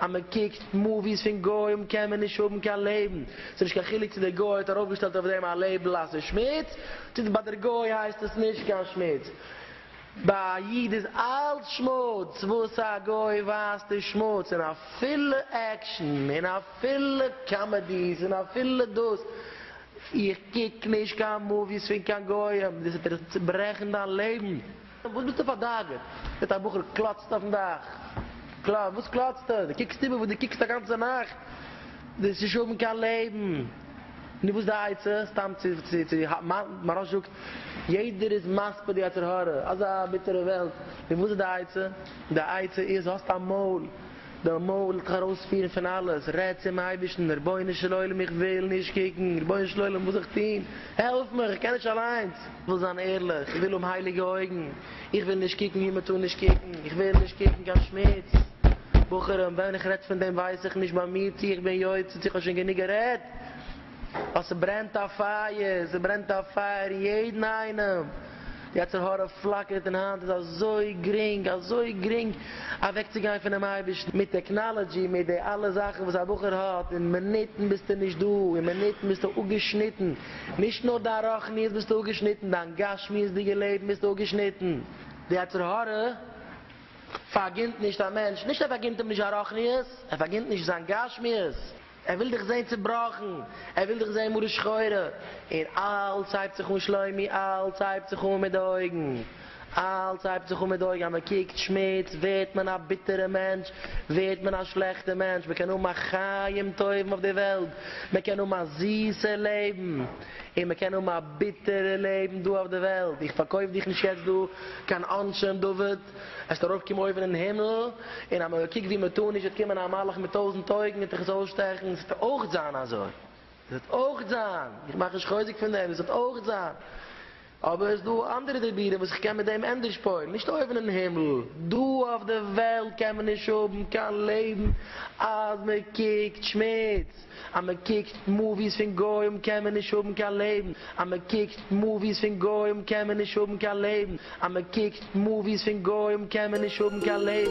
אז מען קוקט מאוויס פון גוים קען מען נישט האבן קיין לעבן, ס'איז נישט קיין חילוק צו דער גוי האט ארויפגעשטעלט אויף דעם א לעיבל אז ס'איז שמוץ, צו ביי דער גוי הייסט עס נישט קיין שמוץ. ביי א איד איז אלץ שמוץ, וואס א גוי ווייזט איז שמוץ, און אפילו עקשן, און אפילו קאמעדיס, און אפילו דאס, איך קוק נישט קיין מאוויס פון קיין גוים, דאס וועט דיר צוברעכן דיין לעבן. וואס ביסטו פארדאגה'ט מיט א בחור קלאצט אויפן דאך? וואס קלאצט ער? דו קוקסט איבער וואס דו קוקסט אגאנצע נאכט? דאס איז נישט האבן קיין לעבן. נו וואס די עצה? סתם צו צו האבן? מהרש זאגט, יעדער איז מספיד די יצר הרע, אזא ביטערע וועלט, נו וואס איז די עצה? די עצה איז, האסט א מויל. די מויל האט זיך ארויספירן פון אלעס, רעד צום אייבערשטן, רבונו של עולם איך וויל נישט קוקן, רבונו של עולם וואס זאל איך טון, העלף מיך איך קען נישט אליינס, איך וויל זיין ערליך, איך וויל האבן הייליגע אויגן, איך וויל נישט קוקן ווי מ'טאר נישט קוקן, איך וויל נישט קוקן קיין שמוץ, בחורים ווען איך רעד פון דעם ווייס איך נישט ביי מיר צו איך בין יוצא צו איך האב שוין גענוג גערעדט. ווייל ס'ברענט א פייער, ס'ברענט א פייער אין יעדן איינעם, די יצר הרע פלאקערט און היינט איז אזוי גרינג, אזוי גרינג אוועקצוגיין פונעם אייבערשטן, מיט טעקנאלעדזשי, מיט די אלע זאכן וואס א בחור האט, אין מינוטן ביסטו נישט דא, אין מינוטן ביסטו אפגעשניטן, נישט נאר דיין רוחניות ביסטו אפגעשניטן, דיין גשמיות'דיגע לעבן ביסטו אפגעשניטן, די יצר הרע פארגינט נישט א מענטש, נישט ער פארגינט אים נישט זיין רוחניות, ער פארגינט נישט זיין גשמיות. ער וויל דיך זעהן צובראכן, ער וויל דיך זעהן מרה שחורה, און אלץ הייבט זיך אן שלומי, אלץ הייבט זיך אן מיט די אויגן, אלץ הייבט זיך אן מיט די אויגן, אז מען קוקט שמוץ ווערט מען א ביטערע מענטש, ווערט מען א שלעכטע מענטש, מען קען האבן א חיים טובים אויף די וועלט, מען קען האבן א זיסע לעבן, און מען קען האבן א ביטערע לעבן דא אויף די וועלט, איך פארקויף דיך נישט יעצט דא קיין אנשי דוד. עסט ארויף קום אויבן אין הימל, און אז מען קוקט ווי מען טאר נישט וועט קומען א מלאך מיט טויזנט אויגן און דיך עס אויסשטעכן, עס וועט אויך זיין אזוי, עס וועט אויך זיין, איך מאך נישט חוזק פון דעם, עס וועט אויך זיין, אבער עס איז דא אנדערע דיבורים וואס איך קען מיט דעם ענדערש פועל'ן, נישט אויבן אין הימל, דא אויף די וועלט קען מען נישט האבן קיין לעבן אז מען קוקט שמוץ. אז מען קוקט מאוויס פון גוים קען מען נישט האבן קיין לעבן, אז מען קוקט מאוויס פון גוים קען מען נישט האבן קיין לעבן, אז מען קוקט מאוויס פון גוים קען מען נישט האבן קיין לעבן.